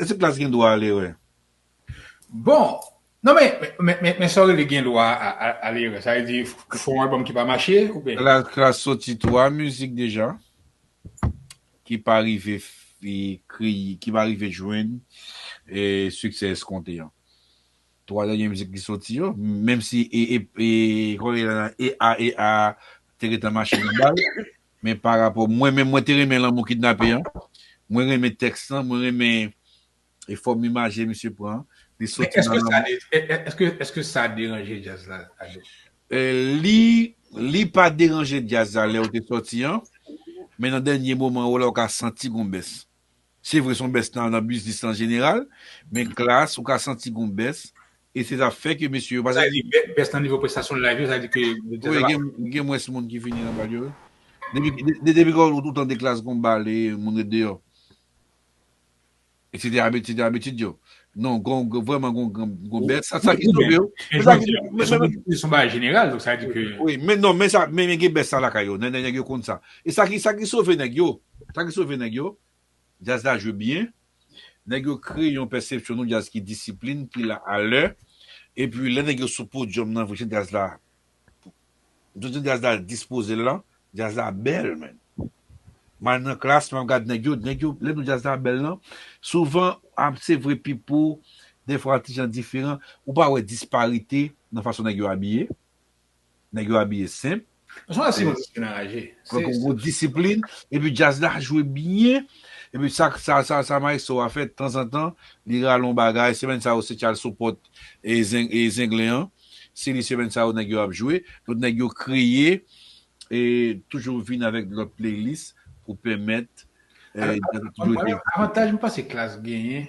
Èske Klass gen dwa a lerè? Bon! Non men, men sa w rele gen dwa a lerè? Sa vle di ou fè yon album ki pa mache oubyen? Klass soti 3 mizik deja ki pa rive kreye, ki pa rive jwenn siksè eskonte an. 3 dènye mizik li soti yo, menm si e, kòman yo rele l la, EAEA te gentan mache nan ba l, Men pa rapò mwen menm mwen te renmen lanmou kidnape an, mwen renmen tèks lan, mwen renmen e fòm imaje misye pran an, li Men soti nan èske sa lanmou. de èske èske sa deranje djaz la Ado? Li li pa deranje djaz la lè ou te sòti an, men nan dènye moman ou la ou ka santi gon bès. Se vre son bès nan biznis lan jeneral, men Klass ou ka santi gon bès e se sa fè ke mesye yo pa Sa vle di bès nan nivo prestasyon live yo sa vle di ke jazz la pa Wi gen mwens moun ki vini nan bal yo wi depi ke ou tande Klass gon bal e moun ret deyò etc abitid yo Non gon vreman gon gon bèt sa sa ki sove yo. Yo son bagay jeneral donk sa di ke. Wi men non men sa men gen bèt sa lakay yo nènè nèg yo konn sa. E sa ki sa ki sove nèg yo sa ki sove nèg yo djaz la jwe byen nèg yo kreye yon pèsepsyon yon djaz ki disiplin ki la alè epi lè nèg yo sou podyòm nan vre jan djaz la M toujou di jazz la dispozel lan jazz la bèl menn m al nan klass map gad nèg yo nèg yo lè nou jazz la bèl lan souvan ap se vre pipo dèfwa an ti jan diferan ou pa wè disparite nan fason nèg yo abiye nèg yo abiye senp gen yon disiplin epi jazz la jwe byen epi sa sa maestro a fè tanzantan li rale yon bagay semenn sa yo se tchal sou pòt e zenglen an Se li semèn sa yo nèg yo ap jwe. Donk nèg yo kreye e toujou vin avèk lòt playlist pou pèmèt djaz toujou rete vivan. Avantaj m panse klass genyen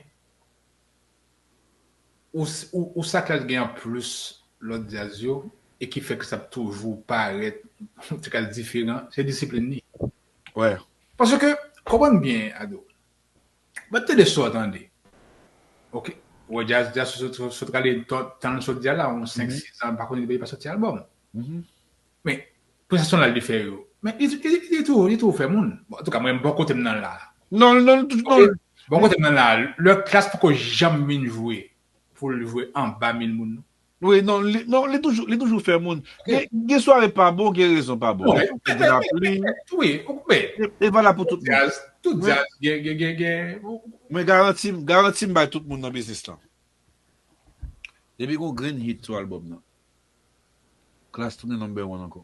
ou sa klass genyen an plis lòt djaz yo e ki fè klass ap toujou parèt m te ka di diferan, se disiplin li. Paske konprann byen Ado. Bat tande sa w tande. Ok. Ou wè djaz djaz sot rale tan l sot di a la yon 5 6 an m pa konnen depi li pa soti album. Men prestasyon l al di fè yo. Men li toujou fè moun. Bon antouka mwen bò kote m nan la. Non l non l toujou non l. Bò kote m nan la lè klass poko janm vin jwe pou l jwe anba 1000 moun non. Wi non li toujou li toujou fè moun gen sware pa bon gen rezon pa bon gen yon ki di lapli wi men e valab pou tout moun tout jazz gen gen gen gen mwen garanti garanti m bay tout moun nan biznis lan depi gon grenn hit sou album nan klass tounen number one ankò.